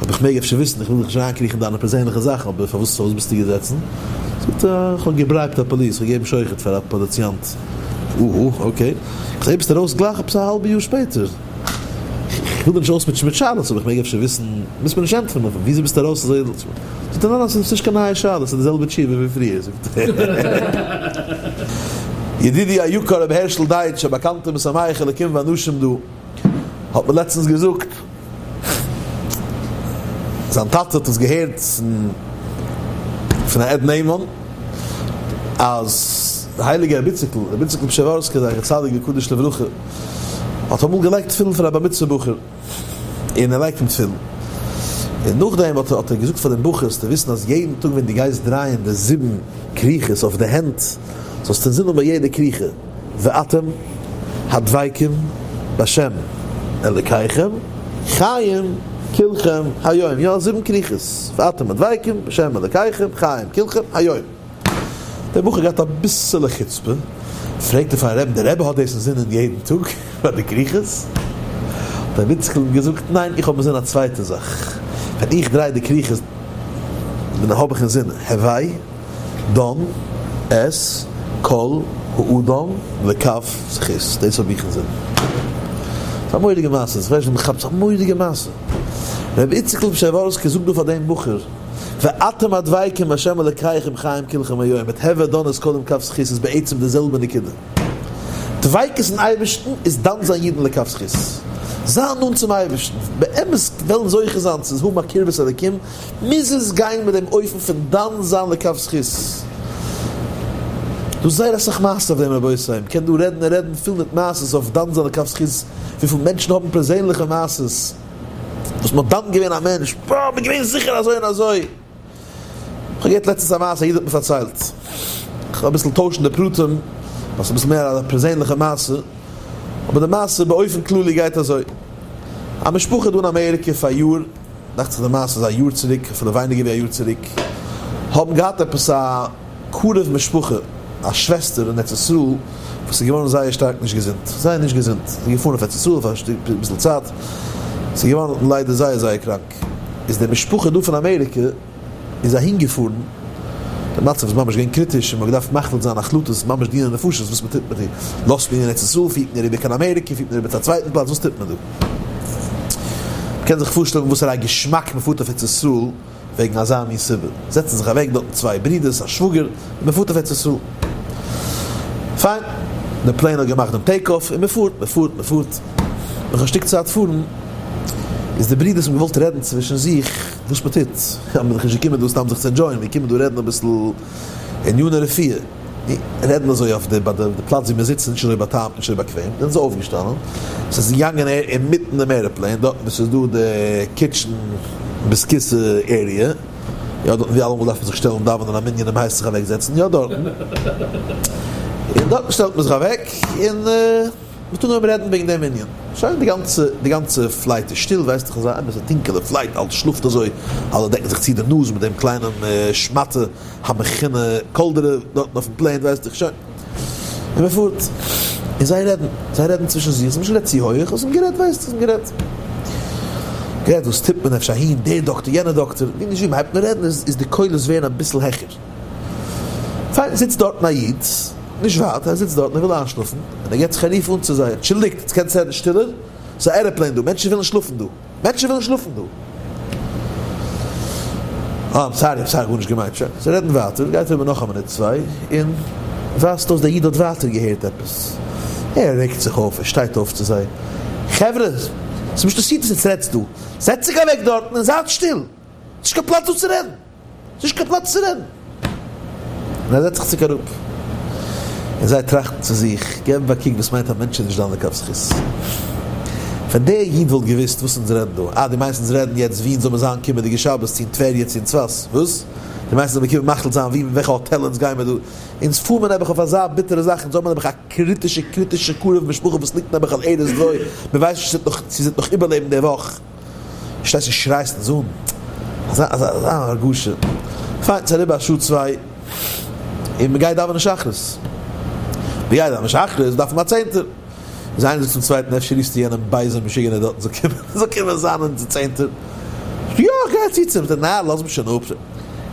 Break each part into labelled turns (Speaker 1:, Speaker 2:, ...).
Speaker 1: האב איך מעג אפשר וויסן? איך וויל דיך נישט אריינקריכן אין דיינע פערזענליכע זאכן אבער פארוואס פארוואס ביסטו געזעצן? זאגט ער איך האב געברייבט א פאליס, איך האב געגעבן שוחד פאר א פאליציאנט. אהא אקעי. איך זעה ביסט ארויס גלייך עפעס א האלבע יאר שפעטער. איך וויל דיר נישט אויסמוטשען מיט שאלות אבער איך מעג אפשר וויסן? מוזט מיר נישט ענטפערן אבער וויאזוי ביסטו ארויס אזוי זאגט ער ניין ניין ס'איז נישט קיין נייע שאלה ס'איז די זעלבע תשובה ווי פריער זאגט ער. ידידי היקר רבי הערשל דייטש א באקאנטער משמח אלקים ואנשים דא האט מיר לעצטנס געזאגט. זיין טאטע האט עס געהערט פון א עד נאמן אז די הייליגע רביציקל, רבי איציקל פשעווארסקי זכר צדיק וקדוש לברכה, האט אמאל געלייגט תפילין פאר א בר מצוה בחור און ער לייגט אים תפילין, און נאכדעם האט ער געזאגט פאר דעם בחור זאלסטו וויסן אז יעדן טאג ווען דו גייסט דרייען די זיבן כריכות אויף די הענט זאלסטו זינען ביי יעדע כריכה. ואתם הדבקים בהשם אלקיכם חיים כלכם היום, יא זיבן כריכות, ואתם הדבקים בהשם אלקיכם חיים כלכם היום. דער בחור האט געהאט אביסעלע חוצפה, פרעגט ער פארן רעבען, דער רבי האט דאס אינזינען יעדן טאג ביי די כריכות? האט דער איציקל אים געזאגט, ניין איך האב אינזינען א צווייטע זאך, ווען איך דריי די כריכות בין האב איך אינזינען הווי. דאן עס כל האדם וכף זכות דאס האב איך אינזין ס'איז א מורא'דיגע מעשה איך ווייס נישט ווען מ'כאפט זיך מורא'דיגע מעשה רבי איציקל פון פשעווארסק זאגט דא פאר דעם בחור ואתם הדבקים בה' אלקיכם חיים כלכם היום מיט הוה דאן עס קודם כף זכות איז בעצם די זעלבע נקודה דביקות אין אייבערשטן איז דן זיין יעדן לכף זכות זיין נאנט צום אייבערשטן באמת וועלן זוכה זיין צו האבן א קרבת אלקים מוז עס גיין מיט דעם אופן פון דן זיין לכף זכות. דא זייער אסאך מעשה'ס אויף דעם רבותי, מ'קען דא רעדן און רעדן פיל מיט מעשה'ס אויף דן זיין לכף זכות, וויפיל מענטשן האבן פערזענליכע מעשה'ס וואס מ'האט דן געווען א מענטש, בה מ'איז געווען זיכער אזוי און אזוי. כ'האב געהערט לעצטנס א מעשה, א איד האט מיר פארציילט, כ'וועל אביסל טוישן די פרטים ווייל ס'איז אביסל מער א פערזענליכע מעשה, אבער די מעשה באופן כללי גייט אזוי, א משפחה דא אין אמעריקע פאריאר, דאכט זיך די מעשה איז א יאר צוריק, אפילו ווייניגער ווי א יאר צוריק, האבן געהאט עפעס א קרוב משפחה, א שוועסטער אין ארץ ישראל, וואס איז געווארן זייער שטארק נישט געזונט, זייער נישט געזונט, זי איז געפארן אויף ארץ ישראל פאר אביסל צייט, זי איז געווארן ליידער זייער זייער קראנק, איז די משפחה דא פון אמעריקע, איז אהין געפארן, די מצב איז ממש געווען קריטיש און מען האט געדארפט מחליט זיין החלטות וואס ממש דיני נפשות וואס מען טוט מיט איר, לאזט מען איר אין ארץ ישראל, פירט מען איר איבער קיין אמעריקע, פירט מען איר איבער צו א צווייטן פלאץ, וואס טוט מען דא? מען קען זיך פארשטעלן וואסערא געשמאק מען פארט אויף ארץ ישראל וועגן אזא מין סיבה, זעצן זיך אוועק דארטן צוויי ברודערס, א שוואגער, און מען פארט אויף ארץ ישראל. פיין, די פלעין האט געמאכט דעם טעיק אף און מען פארט, מען פארט, מען פארט, נאך א שטיק צייט פארן איז די ברודערס האבן געוואלט רעדן צווישן זיך, וואס מען טוט, אז מען איז דאך נישט געקומען דא סתם זיך צו ענדשויען, מיר קומען דא רעדן אביסל עניני רפואה, מיר רעדן אזוי אויף די ביי די פלאץ ווי מיר זיצן, נישט אזוי בא'טעמ'ט, נישט אזוי באקוועם, זענען זיי אויפגעשטאנען, עס איז געגאנגען אהער אינמיטן דעם עראפלעין, דארטן וואו עס איז דא די קיטשן ביז כוסע עריע, יא דארטן ווי אלעמאל דארף מען זיך שטעלן דאווענען א מנין און מען הייסט זיך אוועקזעצן, יא דארטן, און דארטן שטעלט מען זיך אוועק און. מ'טאר נאר רעדן וועגן דעם ענין. שוין, די גאנצע, די גאנצע פלייט איז שטיל, ווייסט איך אזא עמערסע טונקעלע פלייט, אלע שלאפט אזוי, אלע דעקן זיך צו די נאז מיט דעם קליינעם שמאטע המכונה קאלדערע דארטן אויפן פלעין, ווייסט איך שוין. און מ'פארט. און זיי רעדן, זיי רעדן צווישן זיך, ס'נישט גערעדט צו הויעך, אבער ס'איז גערעדט, ווייסט איר, ס'איז גערעדט. גערעדט וואס טוט מען, אפשר אהין, דער דאקטער, יענער דאקטער, ווי נישט ווי, מ'הייבט אן רעדן איז, איז די קולות ווערן אביסל העכער. פיין, זיצט דארטן א איד, נישט ווייט, ער זיצט דארטן ער וויל איינשלאפן, און ער געט זיך א רוף אן צו זיי, אנטשולדיגט, יעצט קענטס רעדן שטילער? ס'איז א ערעפלעין דא, מענטשן ווילן שלאפן דא, מענטשן ווילן שלאפן דא. אה, איים סארי, איים סארי, גארנישט געמיינט, שוין. זיי רעדן ווייטער, גייט אריבער נאך א מינוט צוויי, און ווייזט אויס דער איד האט ווייטער געהערט עפעס. ער רעגט זיך אויף, ער שטייט אויף צו זיי, חברה, ס'נישטא סיטעס, יעצט רעדטס דא, זעצט זיך אוועק דארטן און זייט שטיל, ס'נישט קיין פלאץ דא צו רעדן. נישט קיין פלאץ צו רעדן. און ער זעצט זיך צוריק אראפ. און זיי טראכטן צו זיך, געבן א קוק וואס מיינט א מענטש איז נישט דן לכף זכות. ווען דער איד וואלט געוואוסט וואס אונז רעדן דא, אה, דו מיינסט אונז רעדן יעצט ווי אונז זאל מיר זיין קומענדיגע שבת צו אין טבריה צו אין צפת, וואס? דו מיינסט אונז זאל מיר קומען מחליט זיין ווי און וועלכע האטעל אונז גיי מיר דא? אונז פאר מיר נעבעך אויף אזא ביטערע זאך, אונז האבן נעבעך א קריטישע קריטישע קרוב משפחה וואס ליגט נעבעך על ערש דוי, מיר ווייסן נישט צו זי וועט נאך צו זי וועט נאך איבערלעבן די וואך. שטייסט און שרייסט אין זאל, אזא אזא אזא הרגשה, פיין ס'איז אריבער א שעה צוויי, און מ'גייט דאווענען שחרית, מ'גייט דאווענען שחרית דארף מען א צענטער, איז איינער זאגט צום צווייטן אפשר רופסטו יענעם בייזעם משוגענער דארטן זאל קומען זאל קומען זיין אונזער צענטער, יא איך גיי אצו צו אים, נאר לאז מיך שוין אפ.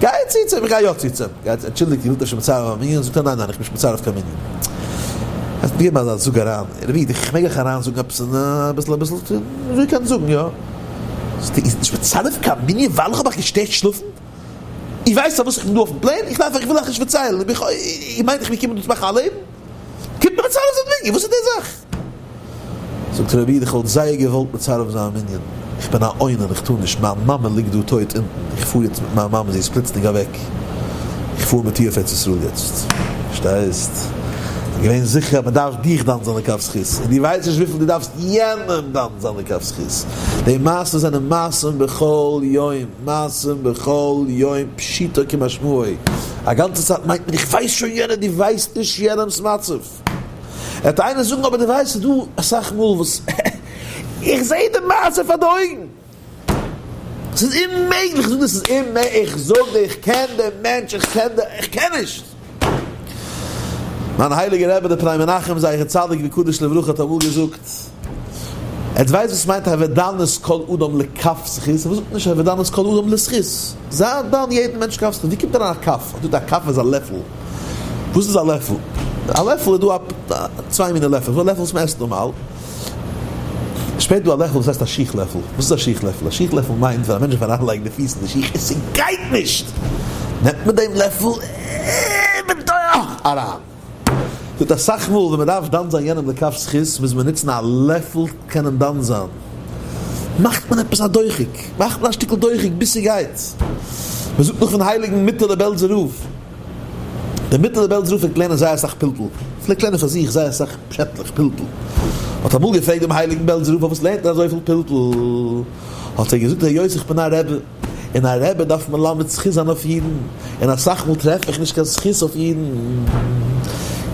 Speaker 1: גיי צו צום גיי יא צו צום גיי אנטשולדיגט איר האט אפשר מצער א מנין? זאגט ער ניין ניין איך בין נישט מצער אויף קיין מנין אז געב מיר א זאג אריין ער וויד איך מעג איך אריין זאגן עפעס און אביסל אביסל טון אזוי קען זאגן יא זאגט ער איר זענט נישט מצער אויף קיין מנין ווייל איך האב אייך געשטערט שלאפן? איר ווייסט פארוואס איך בין דא אויפן פלעין? איך דארף אייך וויל אייך נישט פארציילן איר מיינט איך וועל קומען דא צו מאכן א לעבן? קומט מיך צרות אין מנין, וואס איז די זאך? זאגט ר' איד איך וואלט זייער געוואלט מצרף זיין מנין, איך בין א עונן איך טאר נישט, מיין מאמע ליגט דא טויט אונטן, איך פאר יעצט מיט מיין מאמע זי איז פלוצלינג אוועק, איך פאר מיט איר אויף ארץ ישראל יעצט, פארשטייסט? איך בין געווען זיכער אז מען דארף דיך דן זיין לכף זכות, און דו ווייסט נישט וויפיל דו דארפסט יענעם דן זיין לכף זכות, די מעשים זענען מעשים בכל יום. מעשים בכל יום פשיטא כמשמעו, א גאנצע צייט מיינט מען איך ווייס שוין יענער, דו ווייסט נישט יענעמס מצב. העט איינער זאגן אבער דו ווייסט ס'איז דא אסאך מאל וואס איך זעה די מעשה פאר די אויגן. ס'איז אוממעגליך צו זאגן דאס איז אוממעג, איך זאג דיר איך קען דעם מענטש, איך קען די, איך קען נישט. מיין הייליגער רבי דער פני מנחם זכר צדיק וקדוש לברכה האט אמאל געזאגט, עטס ווייסט וואס מיינט הוודנות כל אדם לכף זכות? וואס זאגט נישט הוודנות כל אדם לזכות? זיי דן יעדן מענטש כף זכות, ווי קומט אריין א כף? א דא א כף איז א לעפל, וואס איז א לעפל? א לעפל איז דא א צוויי מינע לעפל, דא א לעפל וואס מען עסט נארמאל, שפעט דא א לעפל וואס הייסט א שיך לעפל, וואס איז א שיך לעפל? א שיך לעפל מיינט ווען א מענטש דארף אריינלייגן די פיס אין די שיך און ס'גייט נישט, נעמט מען דעם לעפל און מען טויעכט אריין. זאגט אסאך מאל ווען מען דארף דן זיין יענעם לכף זכות מוז מען נוצן א לעפל קענען דן זיין, מאכט מען עפעס א דוחק, מאכט מען א שטיקל דוחק ביז ס'גייט. מען זאגט נאך פון הייליגן מיטעלע בעלזער רב. דער מיטעלער בעלזער רב פלעגט לערנען זייער אסאך פלפול, פלעגט לערנען פאר זיך זייער אסאך פשעטלעך פלפול, האט אמאל געפרעגט דעם הייליגען בעלזער רב פארוואס לערנט ער אזויפיל פלפול, האט ער געזאגט ר' יוסי איך בין א רעבע, און א רעבע דארף מלמד זכות זיין אויף אידען, און אסאך מאל טרעף איך נישט קיין זכות אויף אידען,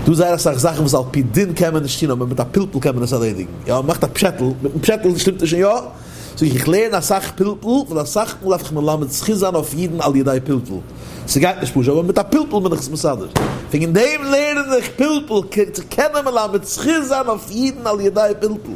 Speaker 1: דא זייער אסאך זאכען וואס על פי דין קען מען נישט טוהן אבער מיט א פלפול קען מען עס ארלעדיגען, יא מען מאכט א פשעטל, מיטען פשעטל שטימט עס שוין יא. זאג איך, איך לערן אסאך פלפול, און אסאך מאל דארף איך מלמד זכות זיין אויף אידן על ידי פלפול, ס'גייט נישט פשוט, אבער מיט א פלפול בין איך עס מסדר, וועגן דעם לערן איך פלפול, כדי צו קענען מלמד זכות זיין אויף אידן על ידי פלפול.